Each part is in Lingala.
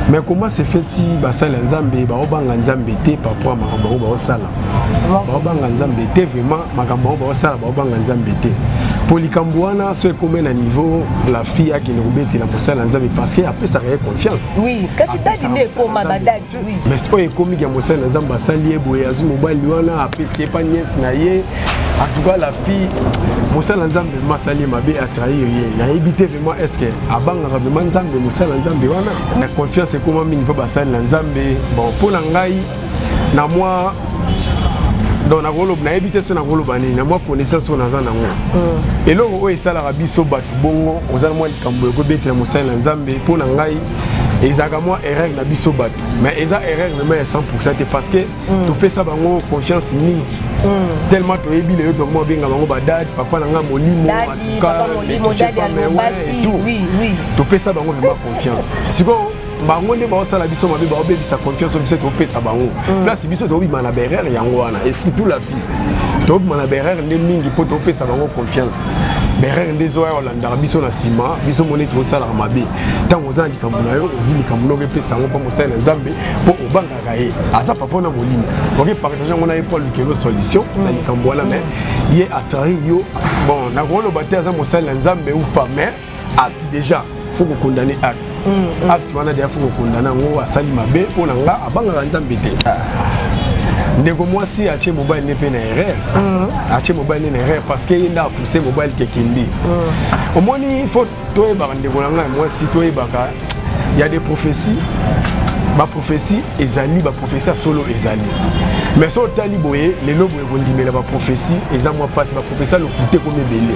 mais comment se fait-il basala nzambe baobanga nzambe te paraport makambo yango baosala baobanga nzambe te vraiment makambo yango baosala baobanga nzambe te mpo likambo wana so ekomi na niveau la fille akende kobetela mosala ya nzambe parce que apesaka ye confiance oui kasi dadi nde ekoma badadi mais oyo ekomi ya mosali na nzambe asali ye boye azwi mobali wana apesi epa niese na ye atuka la fille mosala nzambe vrema asali ye mabe atrahir ye nayebi te vrema est ce que abangaka vrema nzambe mosala nzambe wana na confiance ekoma mingi mpo basali na nzambe bon mpo na ngai na mwa donc nakoloba nayebi te so nakoloba nini na mwa connaissance oyo naza nango hmm. eloko oyo esalaka biso bato bongo oza na mwa likambo ekobetela mosali na nzambe mpo na ngai ezalaka mwa erreur na biso bato mais eza erreur vraiment ya 100 te parce que mm. topesa bango confiance mingi mm. tellement toyebi lelo tokoma obenga bango badadi papa na ngai molimo topesa bango vraiment confiance sikoyo bango nde baosala biso mabe baobebisa confiance oyo biso topesa bango mm. place biso tobima na berere yango wana esprit tout la fille tobima na berere nde mingi mpo topesa bango confiance berere nde ezoya olandaka biso na nsima biso moni tosalaka mabe ntango oza na likambo na yo ozwi likambo noko epesa yango mpo mosali na nzambe mpo obangaka ye aza papa na molimo oke partage yango na ye mpo alukelo solution na likambo wana mai ye atrari yo bon nakoloba te aza mosali na nzambe ou pas mais ati déjà faut kokondane acte mm, mm. acte wana deja faut kokondana yango asali mabe mpo na nga abangaka nzambe te ah. ndeko mwasi atie mobali ne mpe na erreur mm. atie mobali ne na erreur parce que ye nde apousse mobali kekende omoni faut toyebaka ndeko na ngai mwasi toyebaka ya de prophetie baprophetie ezali baprophetie ya solo ezali mais so otali boye lelo boye kondimela baprophetie eza mwa mpasi baprophetie ya lokuta ekomi ebele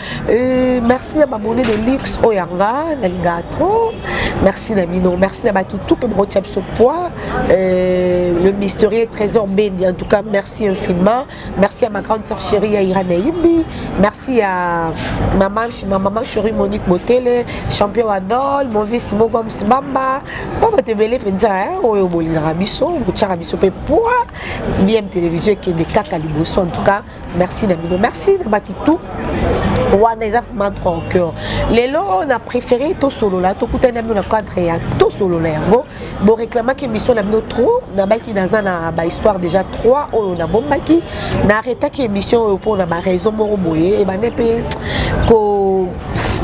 Euh, merci na babone de luxe oyo ya nga nalingaka trop merci na bino merci na bato tout mpe bokotia biso poids euh, le mystérieux trésor mbendi en tout cas merci infiniment merci à ma grande sœur chérie ya irana yimbi merci à ma maman chérie monique motele champion adol mauvais simon goms bamba mpo bato ebele mpenza oyo bolingaka biso botiaka biso mpe poids bm télévision ekende kaka liboso en tout cas merci na bino merci na bato tout wana eza vraiment droit au cœur lelo na préféré tosolola tokutani na bino na cadre ya tosolola yango boreklamaki émission na bino trop nabaki naza na bahistoire déjà 3 oyo nabombaki na arretaki émission oyo mpo na baraison moko boye ebande mpe ko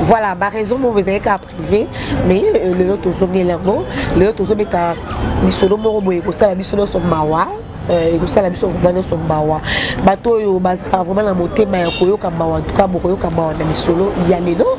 voilà baraison moko ezali kaka privé mais euh, lelo tozongeli yango lelo tozobeta lisolo moko boye kosala biso nyonso mawa Eh, ekosala biso vraimen nyonso mawa bato oyo bazalaka vraimen na motema ya koyoka mawa antuka bokoyoka mawa na lisolo ya lelo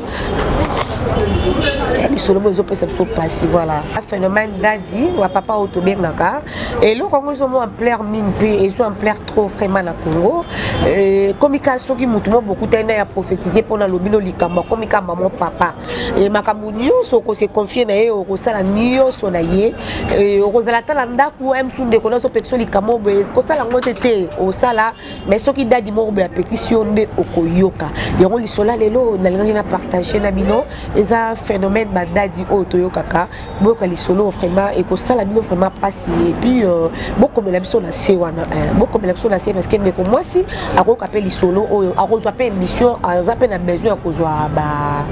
eh, lisolo moko ezopesa biso mpasi voilà phénomène dadi wa papa oyo tobengaka eloko yango ezomo ampleur mingi mpe ezo ampleur trop vraiment na congo eh, komika soki motu mo bokutani na ya prophétise mpo na lobino likambo akomika mamo papa e, makambo nyonso okose confie na ye okosala nyonso na ye e, okozala ata na ndako msu ndeko nazo pekisa likambo boye kosala yango te te osala me soki dadi moko boye apekisi yo nde okoyoka yango lisola lelo nalingaki na partage na bino eza phénomène badadi oyo toyokaka boyoka lisolo vraiment ekosala bino vraiment mpasi epuis euh, bokomela biso na se wana eh, bokomela biso na se parce que ndeko mwasi akoyoka mpe lisolo oyo akozwa mpe émission aza mpe na besoin ya kozwa ba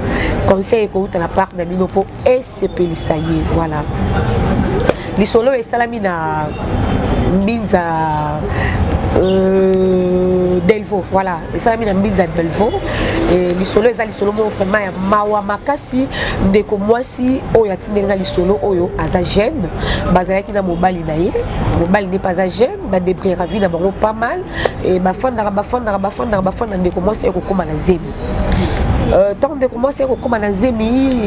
conseil ekouta na part na bino mpo esepelisa ye voilà lisolo oyo esalami na mbinza euh, delvo voilà esalami na mbinza delvo e, lisolo eza lisolo moko vraiment ya mawa makasi ndeko mwasi oyo atindeli na lisolo oyo aza jeune bazalaki na mobali na ye mobali nde mpe aza jeune badebriyaka vie na bango pas mal e, bafandaka bafandaka bafandaka bafanda ndeko mwasi ekokoma na zemi ntango euh, ndeko mwasi akokoma na zemi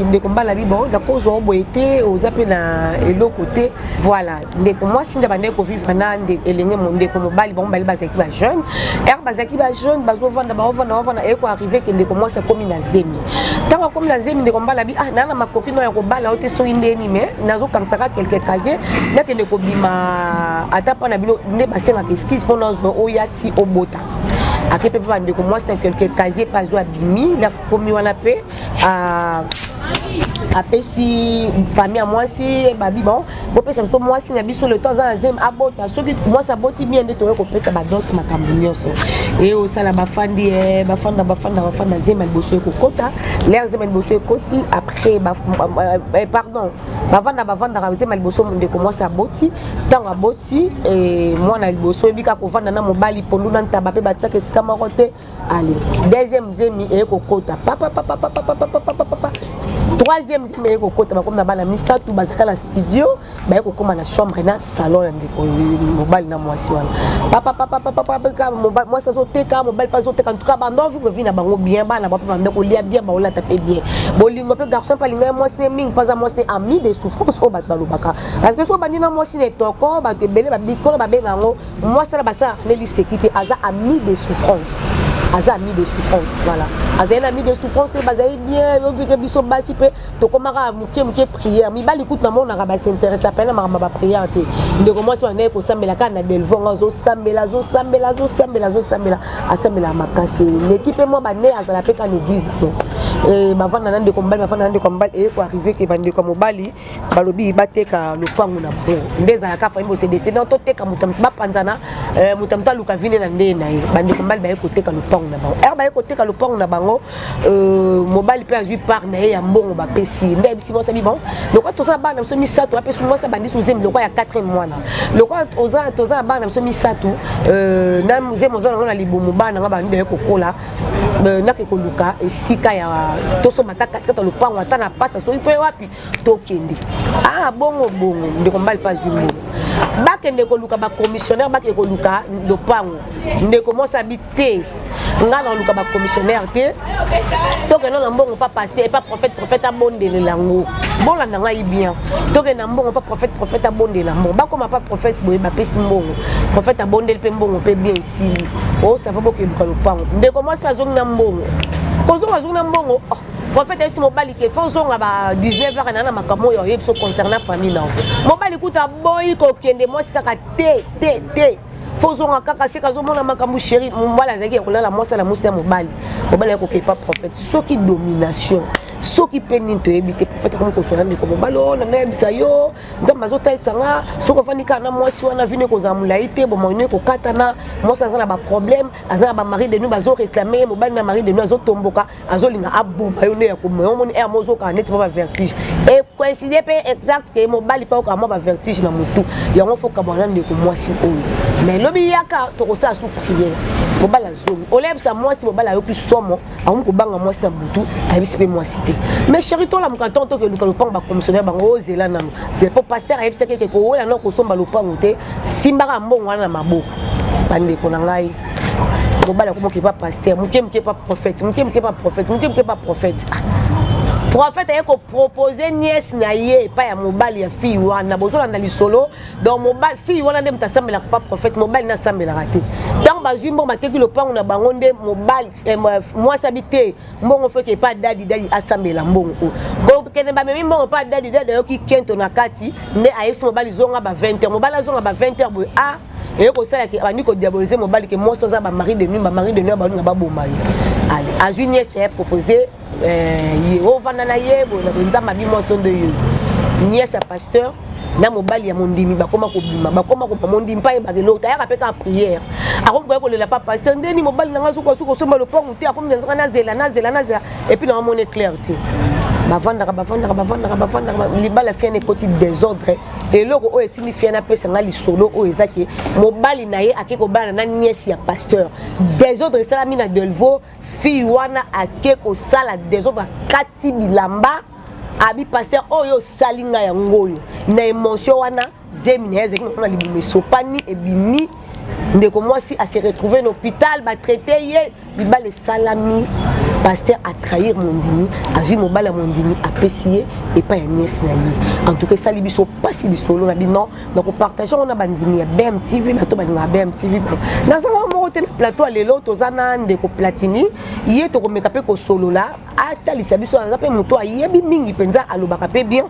ndeko mbala bibo nakozwa oboye te oza mpe na eloko te voilà ndeko mwasi nde bandaki kovivre na elenge ndeko mobali bango mibale bazalaki ba jeune ere bazalaki ba jeune bazovanda baovanda baovanda eye koarrive ke ndeko mwasi akomi na zemi ntango akomi na zemi ndeko mobali abi ah naa na makoki no ya kobala yo te soki ndeni me nazokangisaka quelque casier nakende kobima ata mpo na bino nde basengaka eskise mpo nazwa oya ti obota ake mpe mpe bandeko mwasi na quelque casier mpe azwa abimi nakomi wana mpe ah, apesi famille ya mwasi babi bango bopesa biso mwasi na biso le temps aza na zemi abota soki mwasi aboti bien nde toye kopesa badote makambo nyonso e osala bafandi e bafanda bafanda bafanda zema liboso ekokota lere zema liboso ekoti après eh, pardon bavanda bavandaka zema liboso ndeko mwasi aboti ntango aboti eh, mwana liboso oyebi kaka kovanda na mobali pondu na ntaba mpe batiaka esika moko te ale deuxième zemi eye kokota papapapapapapapapapa troisième zemi eye kokota bakomi na bana misato bazalaka na studio baye kokóma na chambre na salon ya ndeko mobali na mwasi wana papapapapapapaka mwasi azoteka mobali mpe azoteka ntuka bando avivre vi na bango bien bana bape banda kolia bien baolata mpe bien bolingo mpe garçon mpe alingai mwasi ne mingi mpo aza mwasi ne ami de souffrance oyo bato balobaka parce que soki obandi na mwasi na etoko bato ebele babikolo babenga yango mwasi na basala armel liseki te aza ami de souffrance aza ami de souffrance voilà azali na ami de souffrance te bazali bien yobike biso basi mpe tokomaka moke moke prière mibali kutu namonaka basinteresse apene na makambo ya baprière te ndeko mwasi bandaki kosambela kaka na delvongo azosambela azosambela azosambela azosambela asambelaka makasi leki mpe mwa bane azala mpe ka na église yango eh, bavanda na ndeko mobali bavanda na ndeko mobali eye koarrive ke bandeko ya mobali balobi bateka lopango na bango nde ezalaka fai bose descendant toteka moto moto bapanzana eh, moto moto aluka vine na ndeye na ye bandeko mibali baye koteka lopango na bango ere baye koteka lopango na bango euh, mobali mpe azwi part na ye ya mbongo bapesi ye nde ayebisi mwasi abi bon lokola toza na bana na biso misato apesi mwasi abandisi ozemi lokola ya 4 mwana lokola toza na bana na biso misato euh, na zemi oza nango na libumu bana nanga bandi baye kokola euh, nake koluka esika ya tosomba ata katikati ya lopango ata na pasa soki mpe wapi tokende ah bongo bongo ndeko mbali mpe azwi mbongo bakende koluka bacommissionnaire bakende koluka lopango ndeko mwasi abi te ngai nakoluka bacommissionnaire te tokenda na mbongo pa paster epa prophète prophète abondelela yango bolanda ngai bien tokenda mbongo pa prophète prophète abondela mbongo bakoma pa prophète boye bapesi mbongo prophète abondeli mpe mbongo mpe bien esili osava bokeluka lopango ndeko mwasi azongi na mbongo kozonga azongi na mbongo oh. prophète ayebisi mobali ke fo ozonga ba 19 heures na makambo oyo oyebi so concernant famille nao mobali kutu aboyi kokende mwasi kaka te te te fo ozonga kaka seka azomona makambo sheri mobali azalaki ya kolala mwasi ala mwasi ya mobali mobali ya kokepa prophète soki domination soki mpe nini toyebi te profete akomi koswana ndeko mobali oyo na nayebisa yo nzambe azotalisa nga soki ofandi kaka na mwasi wana vino ekozala molai te bomoino ekokatana mwasi aza na baproblème aza na bamari de nu bazoreklame ye mobali na mari de nu azotomboka azolinga aboma yo nde ya koboma yango moni ere mozokaka neti mwa bavertige ecoincide mpe exact ke mobali mpe okaka mwa bavertige na motu yango fo kabwana na ndeko mwasi oyo mais lobi yaka tokosala su priere mobali azomi olebisa mwasi mobali ayoki somo akomi kobanga mwasi na butu ayebisi mpe mwasi te mais chéri tolamuka ntango tokeluka lopango bakomisionnaire bango ozela nano zela mpo paster ayebisaki eke kowela na kosomba lopango te simbaka mbongo wana na maboko bandeko na ngai mobali akomoka epa paster moke moke epa prophète moke moke epa prophète moke moke epa prophète ah. prophète aye kopropose nièce na ye epai ya mobali ya fille wana bozolanda lisolo donc mobali fille wana nde moto asambelaka pa prophète mobali nde asambelaka te ntango bazwi mbongo bateki lopango na bango nde mobali eh, mwasi abi te mbongo feke epai dadi dadi asambela mbongo oyo kokende bamemi mbongo epai dadi dadi ayoki kento na kati nde ayebisi mobali zonga ba 20 heure mobali azonga ba 20 heure boye a ah, eye kosala ke abandi kodiabolize mobali ke mwasi oza bamari de nuit bamari de nuit abalinga baboma yo ale azwi niese ya propose euh, ye ovanda na ye boye na boye nzambe abi mwasi ondo yo niese ya pasteur na mobali ya mondimi bakoma kobima bakoma kobima mondimi mpa yebaka eloko tayaka mpe kaka priere akomi koya kolela pa pasteur ndeni mobali na ngai azokoka soki osomba lopangu te akomi nanzoka nazela nazela nazela epuis na omoni claire te bavandaka bavandaka bavandaka bavandaka libala fiane ekoti desordre eloko oyo etindi fia napesa ngai lisolo oyo eza ke mobali na ye ake kobala na niese ya pasteur desordre esalami na delvo fille wana ake kosala desordre akati bilamba abi pasteur oyo osali ngai yango oyo na emotion wana zemi na ye ezalaki nakona libumu esopani ebimi ndeko mwasi a se retrouver na hôpital batraite ye libala esalami paster atrahir mondimi azwi mobali ya mondimi apesi ye epai ya niese na ye en tout cas esali biso mpasi lisolo na bino na kopartage yango na bandimi ya bmtv bato balingaka bmtv nazanga moko te na plateau ya lelo toza na ndeko platini ye tokomeka mpe kosolola atalisa biso aza mpe moto ayebi mingi mpenza alobaka mpe bien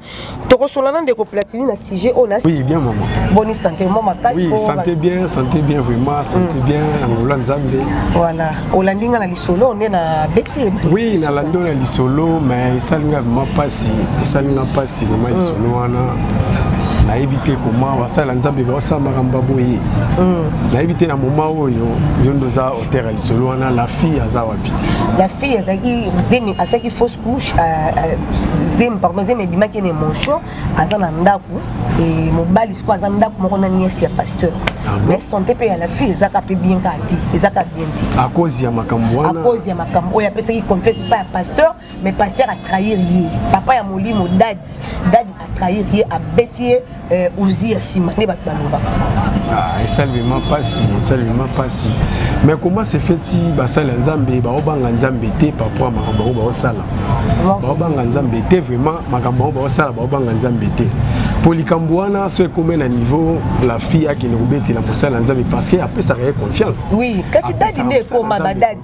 tokosola na ndeko platini na sujet oyo na oui, bien mama boni santé mo makasi oui, santé bien santé bien vraiment santé mm. bien angola nzambe voilà olandi nga na lisolo nde na beti oui nalandi na lisolo mais esali nga vraiment mpasi esali nga mpasi vraiment mm. lisolo wana nayebi te koma basala nzambe baosala makambo ya boye mm. nayebi te na moma oyo yo ndoza Terre lisolo wana la fille aza wapi? La fille azaki zemi asaki fausse couche euh, euh, zemi pardon zemi ebimaki na emotion aza na ndako et mobali siko aza ndako moko na nièce ya pasteur. Ah bon? Mais santé pe ya la fille ezaka pe bien ka te, ezaka bien te. À cause ya makambo wana. À cause ya makambo oyo apesaki confiance pa ya pasteur mais pasteur a trahir ye papa ya molimo dadi dadi a trahir ye abeti ye euh, ozi ya nsima nde bato balobaka ah, esalelema mpasi esalelema mpasi mais comment se feti basali ya nzambe baobanga nzambe te paraport ya makambo yango baosala baobanga nzambe te vraiment makambo yango baosala baobanga nzambe te mpo likambo wana so ekomi na niveau la fille akende kobetela mosala ya nzambe parce que apesaka ye confiance oui kasi dadi nde ekoma badadi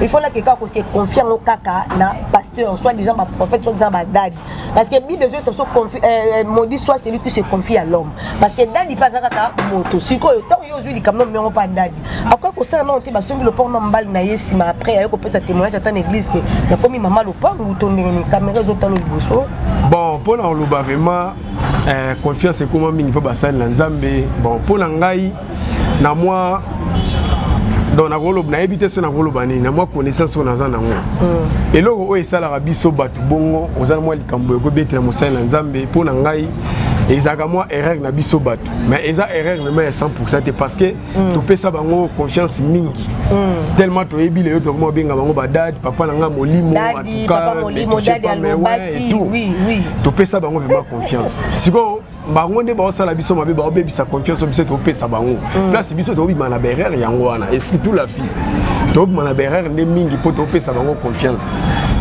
il faut laki kaka kose confie yango kaka na pasteur soit disant baprophète soit disant badadi parce que bible ezoyesa biso euh, maudit soit celui qui se confie à l'homme parce que dadi mpe aza kaka moto sikoyo ntango yo ozwi likambo na miongo mpa dadi akoki kosala nano te basombi lopango na mobali na ye nsima après aye kopesa témoignage ata na église ke nakomi mama lopango to ndenge nini kamera ezotala liboso bon mpo na koloba vraiment euh, confiance ekoma mingi mpo basali na nzambe bon mpo na ngai na mwa donc nakoloba nayebi te so nakoloba nini na mwa connaissance oyo naza nango mm. eloko oyo esalaka biso bato bongo oza na mwa likambo ekobetela mosali na nzambe mpo na ngai ezalaka mwa erreur na biso bato mais eza erreur vraiment ya 100 te parce que mm. topesa bango confiance mingi mm. tellement toyebi lelo tokoma kobenga bango badadi papa na ngai molimo atouka topesa bango vraiment confiance sikoyo bango nde baosala biso mabe baobebisa confiance biso topesa bango mm. place biso tobima na berere yango wana et surtout la fille tobima na berere nde mingi mpo topesa bango confiance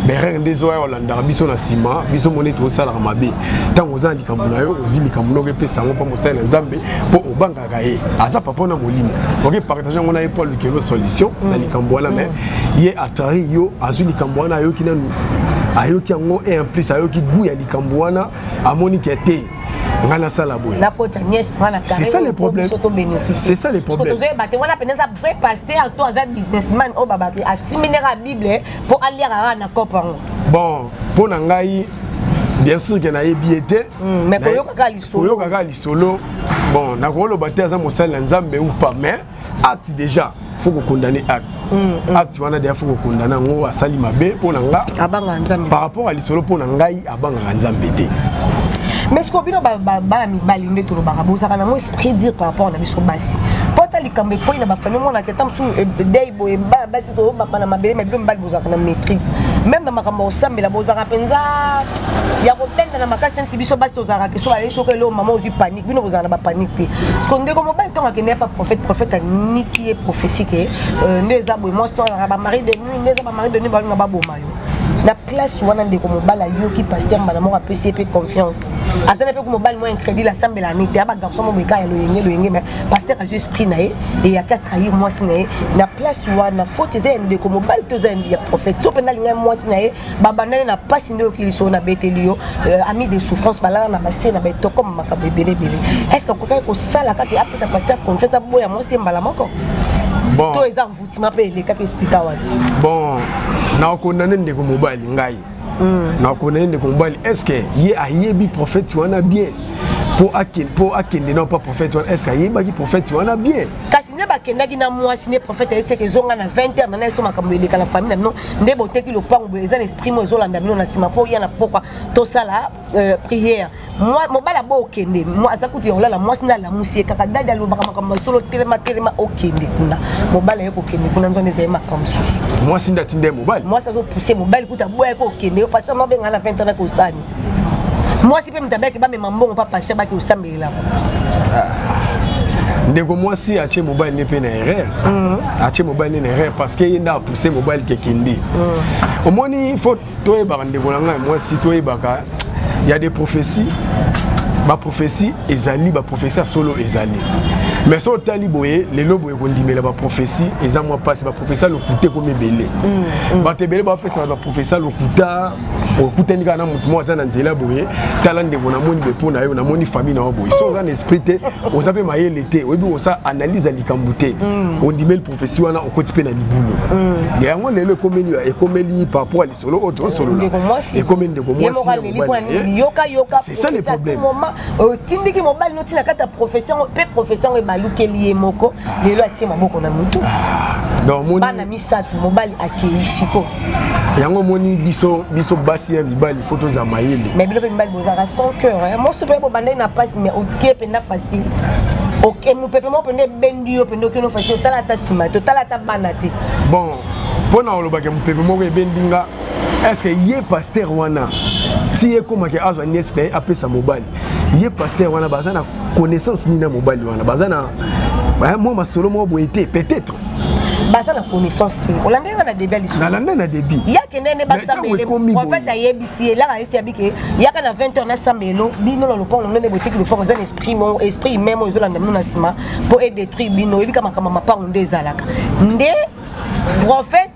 berere nde ezoya olandaka biso na nsima biso moni ete osalaka mabe ntango oza na likambo na yo ozwi likambo noko epesa yango mpo mosali na nzambe mpo obangaka ye aza papa na molimo oke partage yango na ye mpo alukelo solution mm. na likambo wana mai mm. ye atari yo azwi likambo wana ayoki nanu ayoki yango e en plus ayoki gout ya likambo wana amoni ke te ngai nasala boye nakota nièce ngai na c'est ça le problème soto bénéfice c'est ça le problème tozo yeba te wana pene eza vrai pasteur to aza businessman oyo babaki asiminaka bible mpo aliaka kaka na cope yango bon mpo na ngai bien sûr ke nayebi ye te hmm, mais koyokaka lisolo bon nakoloba te aza mosali na nzambe ou pas mais acte déjà faut kokondane acte mm, mm. acte wana deja faut kokondane yango asali mabe mpo na nga abangaka nzambe par rapport ya lisolo mpo na ngai abangaka nzambe te mais sikoyo bino bana mibali nde tolobaka bozalaka nango esprit dire par rapport na biso basi mpo ata likambo ekwei na bafamille omonaka ata mosusu eh, dei boye bana basi toyobaka na mabele ma bino mibali bozalaka na maîtrise meme na makambo ya kosambela bozalaka mpenza ya kotenda na makasi neti biso basi tozalaka keso bayebi soko eloo mama ozwi pani bino bozala na bapanique te parceke ndeko mobali ntongo akende yapa prophète prophète aniki ye prophétie ke euh, nde eza boye mwasi to alaka bamari de nuit nde eza bamari de nuit balinga baboma yo na place wana ndeko mobali ayoki paster mbala moko apesi ye mpe confiance aza na mpe ku mobali mwa incrédit asambela ne te aba garçon mo boyekaya loyenge loyenge me paster azwi esprit na ye eyaki atrahir mwasi na ye na place wana faute eza ya ndeko mobali to eza ya prophète so mpenza alingai mwasi na ye babandani na mpasi nde oyokili soo nabeteli yo euh, ami de souffrance balala na base na betokoma makambo ebele ebele est ce que akokaki kosala kaka apesa paster confiance aboya mwasi te mbala moko bon. to eza envoutima mpe elekaka esika wana bon nakokondane ndeko mobali ngai mm. nakokondane ndeko mobali est ce que ye ayebi prophète wana bien mpo akende na mpa prophète wana estce ayebaki prophète wana bien kasi nde bakendaki na mwasi nde prophète ayebisaki ezonga na 20 heure na na eso makambo eleka na famille na bino nde boteki lopango boye eza na esprit moko ezolanda bino na nsima fo ya na pokwa tosala euh, prière mobali abo okende aza kutu ya kolala mwasi nde alamusi ye kaka dadi alobaka makambo masolo telema telema okende kuna mobali aye kokende kuna nzwana ezali makambo mosusu mwasi nde atindi ye mobali mwasi azopuse mobali kutu aboyaki okende yo pasteur nobenga na 20 ans nakosani mwasi mpe moto abaki bamema mbongo mpa paster baki osambelelaka ah. ndeko mwasi atie mobali nde mpe na erreur mhm. atie mobali nde na erreur parce que ye nde apousse mobali kekende mhm. omoni fo toyebaka ndeko na ngai mwasi toyebaka ya des prophéties baprophétie ezali baprophétie ya solo ezali mais so otali boye lelo boye kondimela baprophétie eza mwa mpasi baprophétie ya lokuta ekomi ebele mm, mm. bato ebele bapesaka baprophétie ya lokuta okutani kaka na motu moko aza na nzela boye tala ndeko namoni bepo na yo namoni famille na yo boye so oza na esprit te oza mpe mayele te oyebi osa analyse ya likambo te mm. ondimeli prophesie wana okoti mpe na libulu mm. yango lelo ekomeli ekomeli par rapport ya lisolo oyo tosolola ekomeli ndeko mwasiyokayokaesa le problème otindiki mobali noti na kati ya prophesie yango mpe prophesie yango ebalukeli ye moko ah. lelo atie maboko na motu ah. bana misato mobali akei siko yango omoni biso biso basi ya mibali fo tozala mayele mais bino mpe mibali bozalaka sans cœur mosusu mpe bobandai na mpasi mais okie mpenza facile mopepe moko mpenza ebendi yo mpenza okeno facile otala ata nsima te otala ata bana te bon mpo na olobaka mopepe moko ebendi nga estce ye paster wana ti ekomaki azwa niese na ye apesa mobali ye paster wana baza na connaissance nini na mobali wana baza na mwa masolo moko boye te peut-être baza na connaissance te olandaki nga na debut ya lisusu nalanda na debut yake ndene basambele en fait ayebisi ye laka yesi yabi ke yaka na 20 heures nasambelo bino na lopango ndene boteki lopango eza na esprit mo esprit humain mo ezolanda bino na nsima mpo edétruire bino oyebika makambo mapango nde ezalaka nde prophète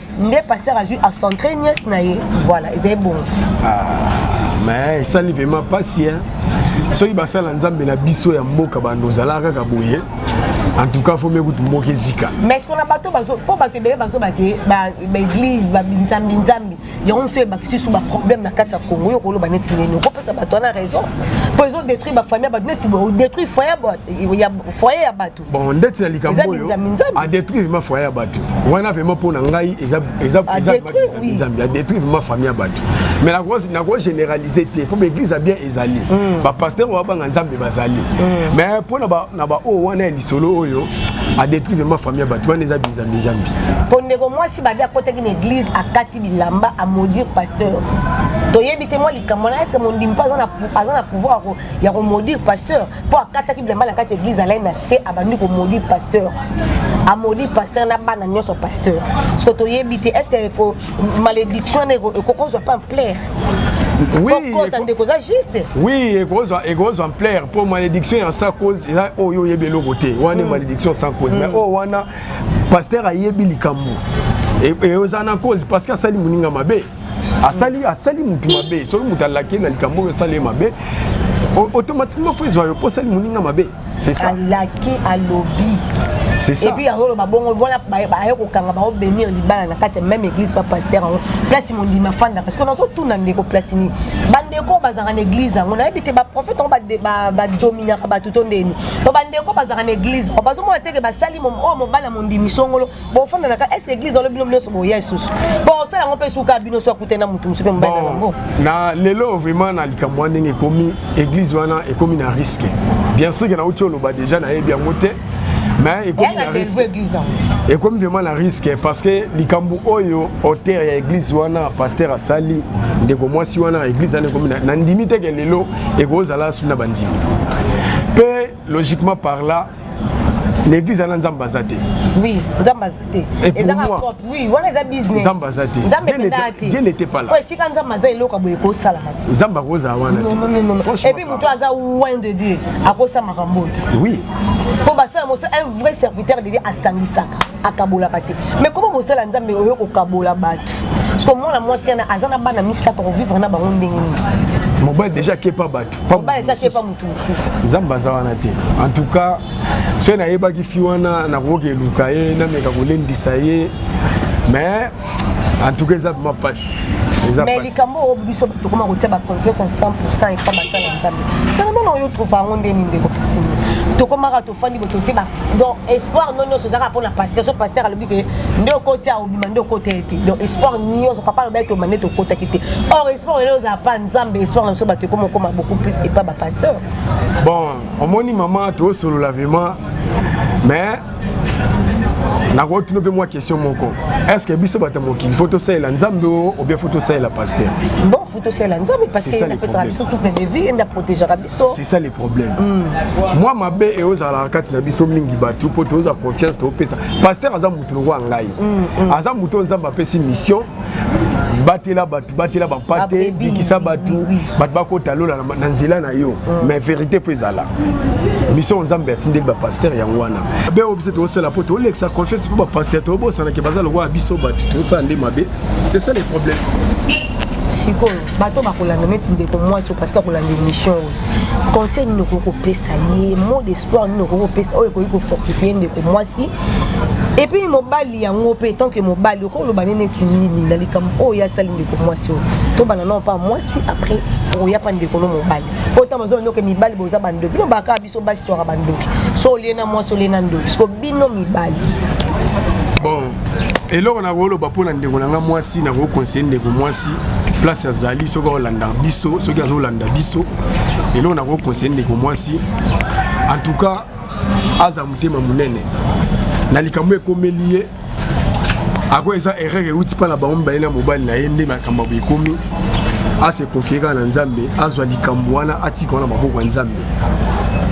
nde pasteur azwi acentre nièce na ye voilà ezali bongo ah, mais esali vraimen mpasi soki basala nzambe na biso ya mboka bando ozalaka kaka boye en tout cas fomi kutu mboka ezika mais ce na bato mpo bato ebele bazoba ke baeglise babinzambi nzambi yango mosusu ebakisi su baproblème na kati ya congo oyo okoloba neti ndeni okopesa bato wana raison mpo ezodétruire bafamille ya bato neti odétruire foyer ya bato bon ndeti na likambo oyo adétruire ma foyer ya bato wana vraiment mpo na ngai ezazambi adétruire ma famille ya bato mais nako généralise te mpo baeglise ya bien ezali hmm. bapaster oyo babanga nzambe bazali hmm. mais mpo na baoyo wana ya lisolo oyo adétruire vraiment famille ya bato wana eza binzambi nzambi mpo ndeko mwasi babi akotaki na église akati bilamba amodire pasteur toyebi te mwa likambo wana eske mondimi mpe aza na pouvoir ya komodire pasteur mpo akataki bilamba na kati ya eglise alai na se abandi komoli pasteur amoli pasteur na bana nyonso pasteur siko toyebi te est ce que malédiction wana ekokozwa mpe ampleur okosa ndeko oza juste oui ekozwa ekozwa ampleur mpo malédiction ya sans cause eza oyo oyebi eloko te wana mm. malédiction sans cause mais mm. oyo wana pasteur ayebi likambo eyoza na cause parce que asali moninga mabe asali asali mutu mabe soki mutu alaki na likambo oyo esali ye mabe automatiquement fo ezwa yo mpo osali moninga mabe c'est ça alaki alobi epuis yango oloba bongo wana aye kokanga baobenir libala na kati ya même église pa paster yango place mondimi afandaka sikoyo nazotuna ndeko platini bandeko oyo bazalaka na église yango nayebi te baprofete yango badominaka bato to ndeni po bandeko bazalaka na église bazomona teke basali oyo mobala mondimi songolo bofanda na ka est ce que église wana bino nyonso boya lisusu bosala yango mpe suka bino so akutani na moto mosusu mpe mobali na bango na lelo vraiment na likambo wana ndenge ekomi église wana ekomi na risque bien sûr ke nauti oloba déjà nayebi yango te mais ekomi na risque ekomi vraiment na risque parce que likambo oyo auteur ya église wana pasteur asali ndeko mwasi wana église wana ekomi na ndimi te ke lelo ekozala asuli na bandimi mpe logiquement par là l'église ana nzambe aza te oui nzambe aza te ezaka cop oui wana eza business nzambe aza te nzambe mpena te dieu n'était pas là po esika nzambe aza eloko ya boye ekosalama te nzambe akozala wana te epuis moto aza loin de dieu akosala makambo te oui po basala mosala un vrai serviteur de dieu asangisaka akabolaka te mais koma mosala ya nzambe oyo kokabola bato parceke mwana mwasi yana aza na bana misato kovivre na bango ndenge nini mobali deja akepa bato mobali eza akepa motu mosusu nzambe aza wana te en tout cas soki nayebaki fi wana nakokoka eluka ye nameka kolendisa ye mais en tout cas eza vrima mpasi mais likambo oyo biso tokoma kotia baconfiance ya 100 epa basala nzambe salamana oyo trouva yango nde nini ndeko pitini tokomaka fandi moto otie ba donc espoir no nyonso ezalaka mpo na pasteur so pasteur alobi ke nde okoti a obima nde okota ye te donc espoir nyonso papa alobi ete omande te okotaki te or espoir lelo ozala pa nzambe espoir na biso bato ekoma okoma beaucoup plus epa bapasteur bon omoni mama tosolola vraiment mais nakotuna mpe mwa question moko est ce que biso bato ya mokili fo tosalela nzambe o obien fo tosalela pasteur bon fo tosalela nzambe parce que apesaka biso souple de vie ende aprotegaka so. c'est ça le problème mm. mwa mabe eyo ezalaka kati na biso mingi bato mpo tozwa confiance topesa paster aza motu lokola ngai mm, mm. aza motu oyo nzambe apesi mission batela bato batela bampate bikisa bato bato bakota lola na nzela na yo mm. mais vérité mpo ezala mission nzambe atindeli bapaster yango wana be oyo biso tokosala mpo tolekisa confiance mpo bapaster tobosanake baza lokola biso bato tosala nde mabe c'est ça le problème sikoyo bato bakolanda neti ndeko mwasi oyo parceke akolanda émission oyo conseil nini okoki kopesa ye mot d'espoir nini okoki kopesa oyo ekoki kofortifie ndeko mwasi epuis mobali yango mpe tant que mobali okoloba ne neti nini na likambo oyo ye asali ndeko mwasi oyo tobana nao mpa mwasi après okoya mpa ndeko no mobali oyo ntango ozoba ndoke mibali boza bandoki bino bakaka biso basi twaka bandoki so olie na mwasi olie na ndoki siko bino mibali bon eloko nakoloba mpo na ndeko na ngai mwasi nakokonseye ndeko mwasi place azali soki aolanda biso soki azolanda biso eloko nakokonseye ndeko mwasi en tout cas aza motema monene na likambo ekomeli ye ako eza erreur euti mpa na bango mibale na mobali na ye nde makambo ekomi ase confie kaka na nzambe azwa likambo wana atika wana maboko ya nzambe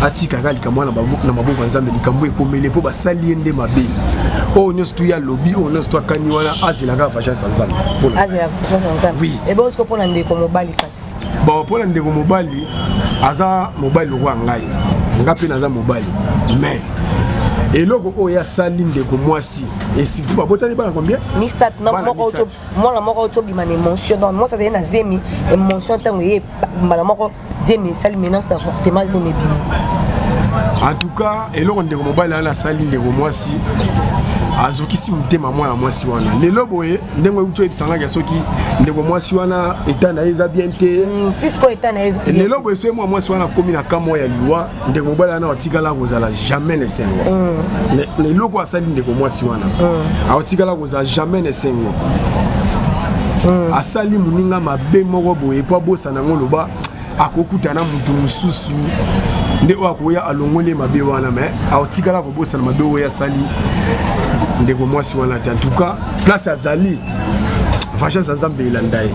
atika kaka likambo wana na maboko ya nzambe likambo ekomele mpo basali ye nde mabe oyo nyonso tu ya lobi oyo nyonso tu akani wana azela kaka vagence ya nzambe mpo na ndeko mobali kasi bon mpo na ndeko mobali aza mobali lokola ngai nga mpe naza mobali mais eloko oyo asali ndeko mwasi esitu babotani bana combien misato na moko mwana moko tobima na émotion donc mwasi azali na zemi émotion ntango eye mbala moko zemi esali menace d'avortement zemi ebimi en tout cas eloko ndeko mobali wana asali ndeko mwasi azokisi motema mwana mwasi wana lelo boye ndenge euti oyebisangaki ya soki ndeko mwasi wana eta na ye eza bien te mm, lelo boye soki mwa mwasi wana akomi na kamwa ya liwa ndeko mobali wana atikala kozala jamais na esengo mm. eloko asali ndeko mwasi wana mm. atikala kozala jamais na esengo asali moninga mabe moko boye po nango loba akokuta na moto mosusu nde oyo akoya alongoli mabe wana me aotikala kobosana mabe oyo asali ndeko mwasi wana te antuka place azali vengeance ya nzambe elanda ye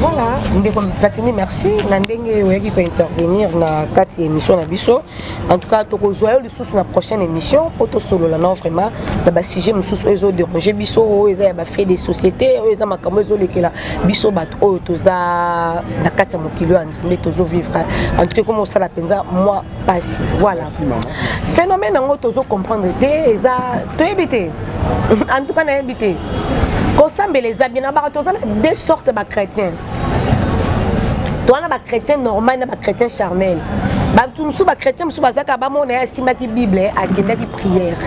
voilà ndeko platini merci na ndenge oyaki kointervenir na kati ya émission na biso en tout cas tokozwa yo susu na prochaine émission mpo tosolola nao vraiment na basujet mosusu oyo ezoderange biso oyo eza ya bafait de société oyo eza makambo ezolekela biso bato oyo toza na kati ya mokili oyo ya nzambe tozovivre en tout cas ekoma osala mpenza mwa mpasi voilà phénomène yango tozocomprendre te eza toyebi te en tout cas nayebi te kosambela eza bien na bato toza na deux sortes ya bachrétien toza na bachrétien normal na bachrétien charnel bato mosusu bachrétien mosusu bazaka bamona ye asimbaki bible akendaki priere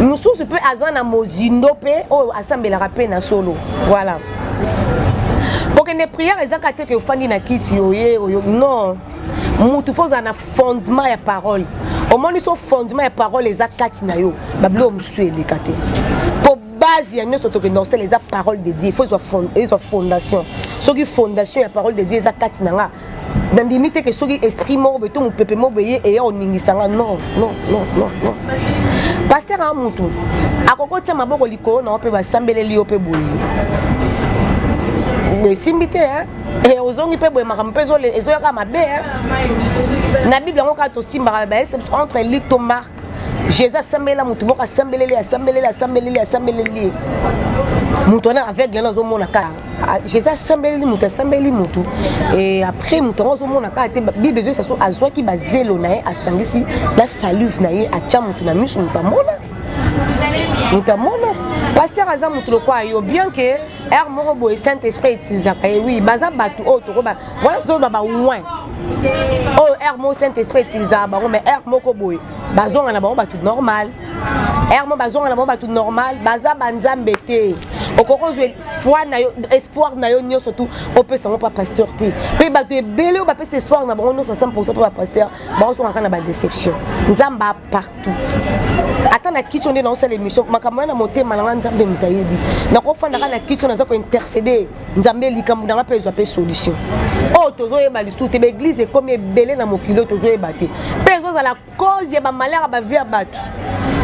mosusu mpe aza na mozindo mpe oyo asambelaka mpe na solo voilà kokende priere ezaka te ke ofandi na kiti oye oyo non motu fo ozala na fondement ya parole omoni so fondement ya parole eza kati na yo babilo mosusu eleka te base ya nyonso toke norcel eza parole de dieu faut ezwa fondation soki fondation ya parole de dieu eza kati na nga nandimi te ke soki esprit moko boye to mopepe moko boye eya koningisa nga non non non non non paster a motu akoki otia maboko likolo na yo mpe basambeleli yo mpe boye esimbi te eh, ozongi mpe boye makambo mpe ezoyaka mabe na bible yango kaka tosimbaka baese entre lik to mark jésus asambelela motu moko asambeleli asambeleli asambeleli asambeleli moto wana aveugle wana azomona kaka ah, jésus asambeleli moto asambeleli moto e après moto yango azomona kaka te bible ezoyisa so azwaki bazelo na ye asangisi na salive na ye atya moto na miso moto amona moto amona paster aza moto lokola yo bien ke ere moko boye saint esprit etilisaka ye wi baza bato oyo tokoba wana tozoloba bawin oyo aire moko saint esprit etilisaka bango mais aire moko boye bazonga na bango bato normal aire moko bazonga na bango bato normal baza banzambe te okoki ozwa foi na yo espoir na yo nyonso tu opesa yango mpa pasteur te mpe bato ebele oyo bapesa espoir na bango nyonso 100 mpo bapasteur baozonga kaka na badeception nzambe a partout ata na kitio nde naosala émission makambo ya na motema na ngai nzambe moto ayebi nakofandaka na kitio naza kointercede nzambe likambo na nga mpe ezwa mpe solution oyo oh, tozoyeba lisusu te baeglize ekomi ebele na mokili oyo tozoyeba te mpe ezozala cause ya bamalere ya bavie ya bato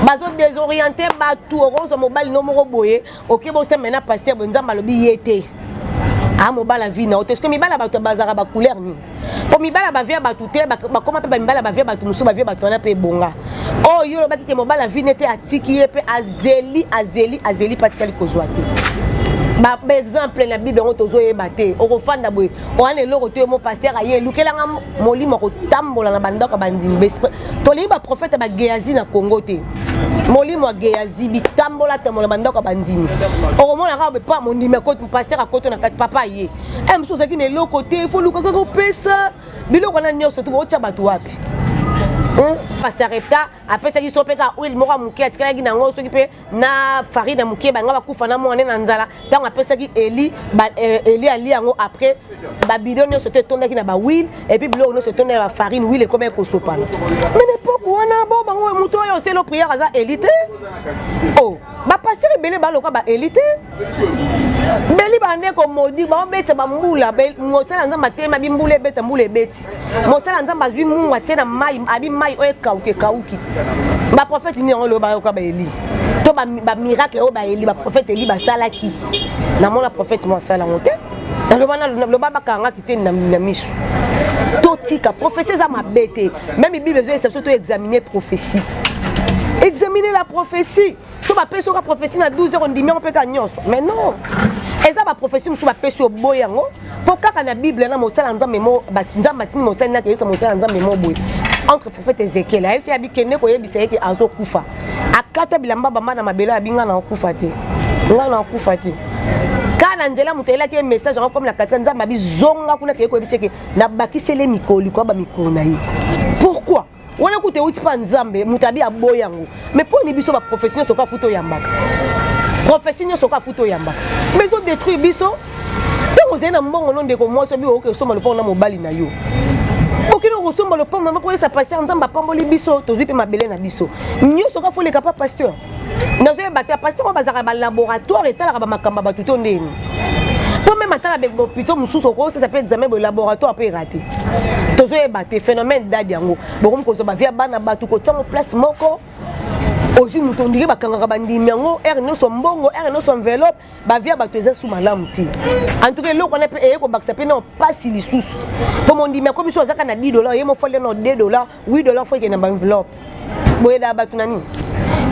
bazo desoriente bato okozwa mobali no moko boye oke boseme na paster boye nzambe alobi ye te a ah, mobala vi na yo te soki mibala bato bazalaka bacouleur nini po mibala ba vie bato te bakoma mpe bamibala ba vie bato mosusu ba vie bato wana mpe ebonga oyo oh, yo olobaki te mobala vie nete atiki ye mpe azeli azeli azeli mpe atikali kozwa te baexemple na bible yango tozoyeba te okofanda boye owana eloko to mo paster aye elukelanga molimo akotambola na bandako ya bandimi tolingi baprofete bageazi na congo te molimo ya geazi bitambola tambola bandako ya bandimi okomona kaka pa mondimi paster akoto na kati papa aye eh, mosusu ozalaki na eloko te fo luka kaka opesa biloko wana nyonso to baotya bato wapi pasarepta apesaki so mpe kaka oil moko ya moke atikalaki na yango soki mpe na farine ya moke banga bakufa na mwana na nzala ntango apesaki eli eh, eli ali yango après babido nyonso to etondaki na bawile epuis biloko nyonso etonda ya bafarine wile ekomaki kosopana mene epoke wana bo bango moto oyo oselo priere aza eli te o oh. bapastere ebele baloka baeli te beli bande komodi baobeta bambula mosala nzambe atema bimbula ebeta mbula ebeti mosala nzambe azwi mungu atie na mai abi mai oyo ekauki ekauki baprofete nini yango loyo bayoka baeli to bamiracle oyo baeli baprofete eli basalaki namona profete mo asala yango te naloba bakangaki te na miso totika profesi eza mabe te meme bible ezoyesa biso to examine prophétie examine la prophétie so bapesi oka prophétie na 12 heures ondimi yango mpe kaka nyonso mais non eza baprophétie mosusu bapesi oboye yango mpo kaka na bible na mosala nzambe mo nzambe atindi mosali nake yesa mosala nzambe mo boye entre prophète ezekiel ayebisi abikende koyebisa ye ke azokufa akata bilamba bamba na mabele abi ngai nakokufa te ngai nakokufa te kaka na nzela moto ayelaki ye message yango komi na katika nzambe abi zonga kuna keye koyebisa ke nabakisele mikolo likolo ba mikolo na ye pourkui wana kuta euti mpa nzambe moto abi aboya yango mais mpo ni biso baprofesio nyonso oka futa oyambaka profesio nyonso oka futa oyambaka mais ezodétruire biso ntango ozali na mbongo no ndeko mwasi obi okoki osomba lopango na mobali na yo okende okosomba lopango mama koyesa paster nzambe apamboli biso tozwi mpe mabele na biso nyonso oka foleka mpa paster nazoyeba te apasiteke oyo bazalaka balaboratoire etalaka bamakambo ya bato to ndeni mpo meme atala bopito mosusu okosesa mpe examen boye laboratoire mpe erate tozoyeba te phénomène dad yango bokomi kozwa bavia bana bato kotiango place moko ozwi moto ondiki bakangaka bandimi yango ere nyonso mbongo ere nyonso enveloppe bavia bato eza su malamu te antuka eloko wana mpe eye kobakisa mpe na mpasi lisusu mpo mondimi akomi so azaka na 10 dola oye mofali na 2 dola Oui dollar faut que na enveloppe. Boye da batu na nini?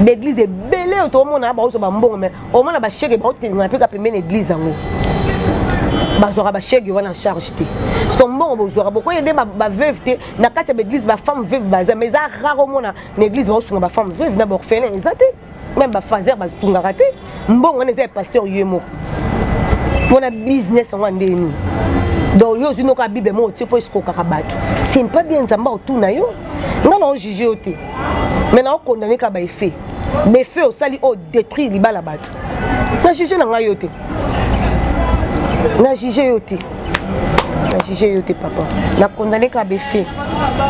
L'église est belée au tomo na ba ozo ba mbongo mais au moins na ba chèque ba otenga na peka pembeni église yango. bazwaka bashege wana en charge te parceke mbongo bozwaka bokoye nde baveuve te na kati ya baeglise bafemme veuve baza mais eza rare omona na église baosunga bafemme veuve na baorphelin eza te meme bafazer batungaka te mbongo wana eza ya pasteur ye moko mpona business yango andeni donc yo ozwi noka bible moko otie mpo esikokaka bato c'est pas bien nzambe aotuna yo nga na ojuge yo te mais na okondane kaka baeffet beffet osali oyo détruire libala bato na juge na ngai yo te na juge yo te na juge yo te papa na condamne kaka beffet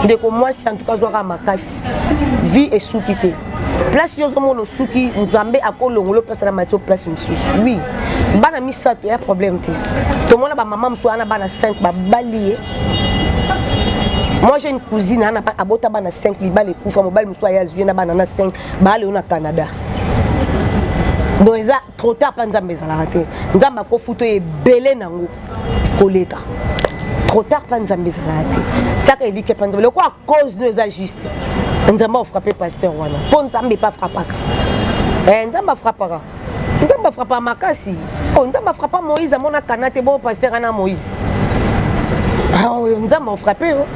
ndeko mwasi en tout cas azwaka makasi vie esuki te place yo ozomona osuki nzambe akolongolo place na matio place mosusu oui bana misato ya problème te tomona bamama mosusu wana bana 5 babali ye moi j'ai une cousine ana abota bana 5 libala ekufa mobali mosusu aya azwi ye na bana na 5 baale yo na canada donc eza trop tard mpa nzambe ezalaka te nzambe akofuta oyo ebele nango koleka trop tard mpa nzambe ezalaka te tiaka elike mpa nzambe lokola cause no eza juste nzambe afrappe pasteur wana mpo nzambe epa frappaka eh, nzambe afrappaka nzambe afrappaka makasi o oh, nzambe afrappa moïse amona kana te bo pasteur ana moïse ah, nzambe afrappe yo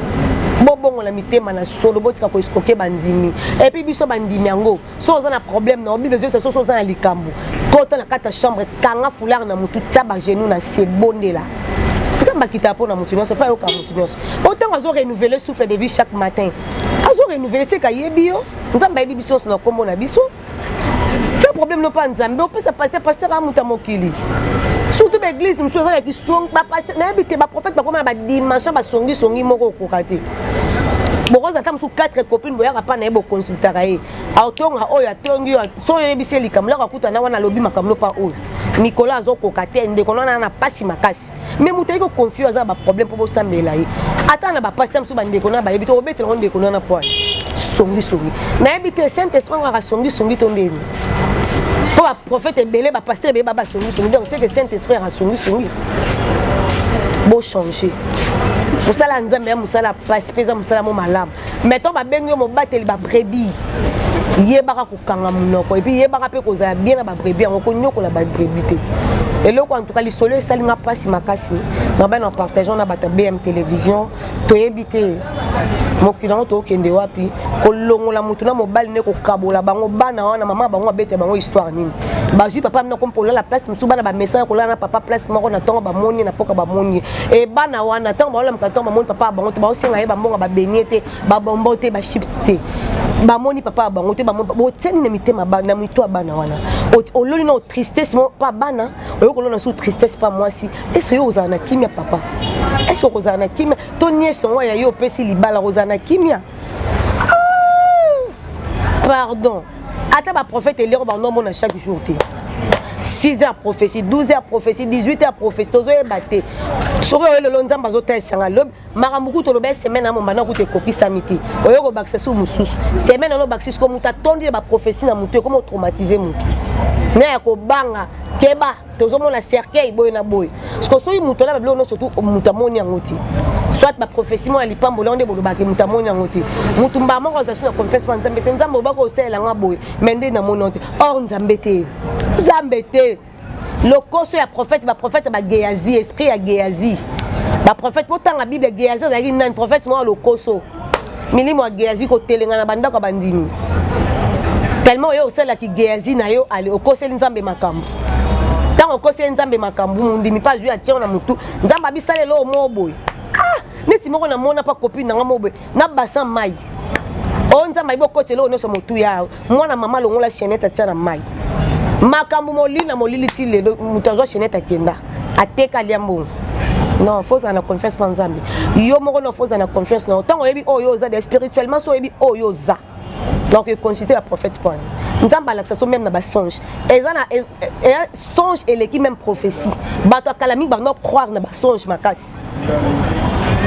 bobongola mitema na solo botika koeskoke bandimi epuis biso bandimi yango so oza na problème na bible ezoyebisa soso oza na likambo kota na kati ya chambre kanga foulard na motu tia bagenou na se bondela nzambe akitaka mpo na motu nyonso mpe ayokaka motu nyonso o ntango azo renouvele souffle de vie chaque matin azo renouvele seka ayebi yo nzambe ayebi biso nyonso na nkombo na biso tia problème no mpa nzambe opesa paster paster a moto ya mokili surtout baeglise mosusu eza na kisong bapaster nayebi te baprofete bakoma na badimension basongisongi moko okoka te bokozala ata mosusu 4 copine boyaka mpa na ye boconsultaka ye aotonga oyo atongi oyo so oyebisi ye likambo lako akutana wana alobi makambo lopa oyo mikolo azokoka te ndeko na wana na mpasi makasi me moto ayeki oconfio aza na baproblème mpo bosambela ye ata na bapasi ta mosusu bandeko na bayebi te obetela ngo ndeko na wana mpo songisongi nayebi te saint esprit ngaka songisongi to ndeni mpo baprofete ebele bapasteur ebele babasongisongi donc seke saint esprit akasongisongi bochange mosala ya nzambe ya mosala ya mpasi mpe eza mosala mo malamu maintenant babengi yo mobateli babrebis yebaka kokanga monoko epuis yebaka mpe kozala bien na babrebis yango konyokola babrebis te eloko en tout cas lisolo esali nga mpasi makasi nabana na partageant na bato ya bm télévision toyebi te mokili yango tokende wapi kolongola motu na mobali nde kokabola bango bana wana mama bango abeta bango histoire nini bazwi papa mino kompo olala place mosusu bana bamesana kolala na papa place moko na ntongo bamoni na mpoka bamoni e bana wana ntango baolamka ntango bamoni papa ya bango te baosenga ye bambonga babenie te babombo te bachips te bamoni papa ya bango te botiani na mitema na mito ya bana wana ololi na otristesse moko mpa bana oyo kolona sous tristesse pa mwasi ese yo ozala na kimia papa ese okozala na kimia to niese yango ya yo opesi libala kozala na kimia ah! pardon ata baprofete elioko bango omona chaque jour te 6 heures prophétie 12 heures prophétie 18 heures prophétie tozoyeba te soki oyo lelo nzambe azotalisa nga lobi makambo kutu olobeli semaine yango mbanda kutu ekokisami te oyo kobakisa su mosusu semaine yango obakisi siko moto atondi na baprofesi na motu ekoma otraumatise motu na ya kobanga keba tozomona cercueil boye na boye siko soki moto na babiloko nyonso tu moto amoni yango te soit baprofesi moko ya lipamboli yango nde bolobaki moto amoni yango te motu mbaa moko azali na confesse ma nzambe te nzambe obaki osalela nga boye mai nde namoni yango te or nzambe te nzambe te lokoso ya prophète ba prophète ba geazi esprit ya geazi ba prophète botanga bible geazi azalaki nani prophète moko ya lokoso milimo ya geazi kotelengana bandako ya bandimi tellement oyo osalaki geazi na yo ale okoseli nzambe makambo ntango okoseli nzambe makambo mondimi mpe azwi atyango na motu nzambe abisala eloo moo boye ah neti moko namona mpa copine na nga moo boye na basin mai o oh, nzambe ayebi okoti eloko nyonso motuya mwana mama alongola chenete atia na mai makambo molili na molili ti lelo moto azwa chenete akenda ateka alia mbongo non fo ozala na confiance mpa nzambe yo moko no fo ozala na confiance na yo ntango oyebi oyo oh, oza de spirituellement so oyebi oyo oh, oza donc econsulte baprophète mpo wana nzambe alakisa so meme na basonge eza na e, e, e, songe eleki meme prophétie bato ya kala mingi bando croire na basonge makasi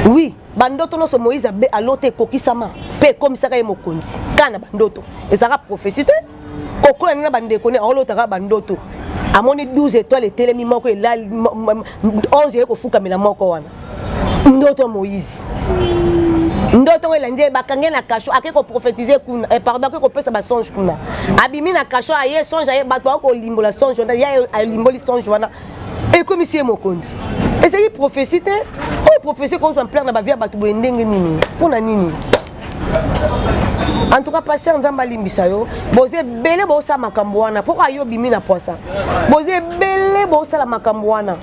oui bandoto nyonso moïse abe alota ekokisama mpe ekomisaka ye mokonzi kaka na bandoto ezalaka profesi te kokola nini na bandeko ne aolotaka bandoto amoni 12 étoile etelemi moko elali 11 eye kofukamela moko wana ndoto ya moïse ndoto oyo elandi bakange na kasho ake koprofetize kuna eh, pardon ake kopesa basonge kuna abimi na kasho aye songe aye bato bakolimbola songe wana ye alimboli songe wana ekomisi ye mokonzi ezali prophesie te oyo prophesie ekozwa mplare na bavia bato boye ndenge nini mpo na nini en tout cas pasteur nzambe alimbisa yo boza ebele bosala makambo wana mpo ayo obimi na pwasa boza ebele bosala makambo wana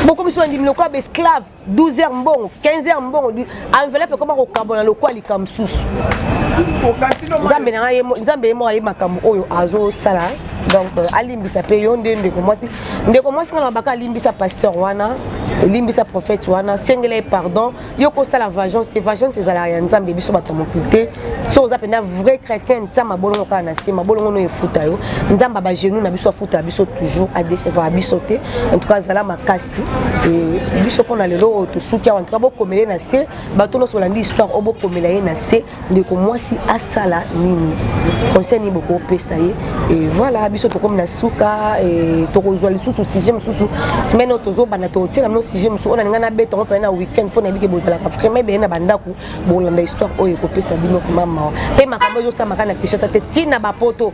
bokomisi bandimi lokola baesclave 12 heures mbongo 15 heures mbongo enveloppe ekoma kokabona lokola likambo mosusu nzambe na ngai nzambe ye moko aye makambo oyo azosala donc euh, alimbisa mpe yo nde ndeko mwasi ndeko mwasi wana baka alimbisa pasteur wana elimbisa prophète wana sengela ye pardon yo kosala vagence te vagence ezalaka ya nzambe biso bato ya mokili te so oza mpenza vrai chrétien ntia mabolongo kaka na se mabolongo no efuta yo nzambe bagenou na biso afuta biso toujours adecevaka biso te en tout cas azala makasi e biso mpona lelo oyo tosuki awa ntuka bokomela ye na se bato nyonso balandi histoire oyo bokomela ye na se ndeko mwasi asala nini conseil nini bokopesa ye e voilà biso tokomi na suka e tokozwa lisusu sujet mosusu semaine oyo tozobanda tokotiela bino sujet mosusu oyo nalinga nabeta yango mpena na week-end mpo nayebike bozalaka vraiment ebele na bandako bolanda histoire oyo ekopesa bino vraiment mawa mpe makambo ezosamaka na kishata te ntina bapoto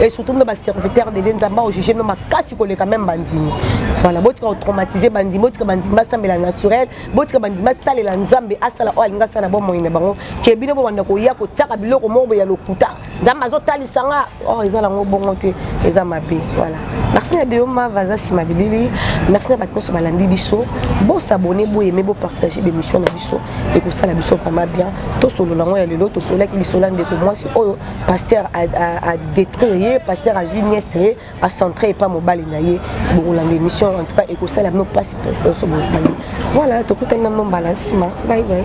et surtout meme baserviteur de nzambe aojuge meme makasi koleka meme bandimi voilà botika kotraumatise bandimi botika bandimi basambela naturel botika bandimi batalela nzambe asala oyo alingi asala na bomoi na bango ke bino bobanda koya kotiaka biloko moko ya lokuta nzambe azotalisa nga or oh, eza nango bongo te eza mabe voilà merci na deoma vaza nsima bilili merci na bato nyonso balandi biso bosabone boyeme bopartage bemission na biso ekosala biso vraiment bien tosolola yango ya lelo tosololaki lisolo ya ndeko mwasi oyo pasteur adétruire ye pasteur azwi nieste ye acentre epa mobali na ye bokolanda émission en tout cas ekosala bino mpasi mpasi oso bosali voilà tokutani na mno mbala nsima bye bye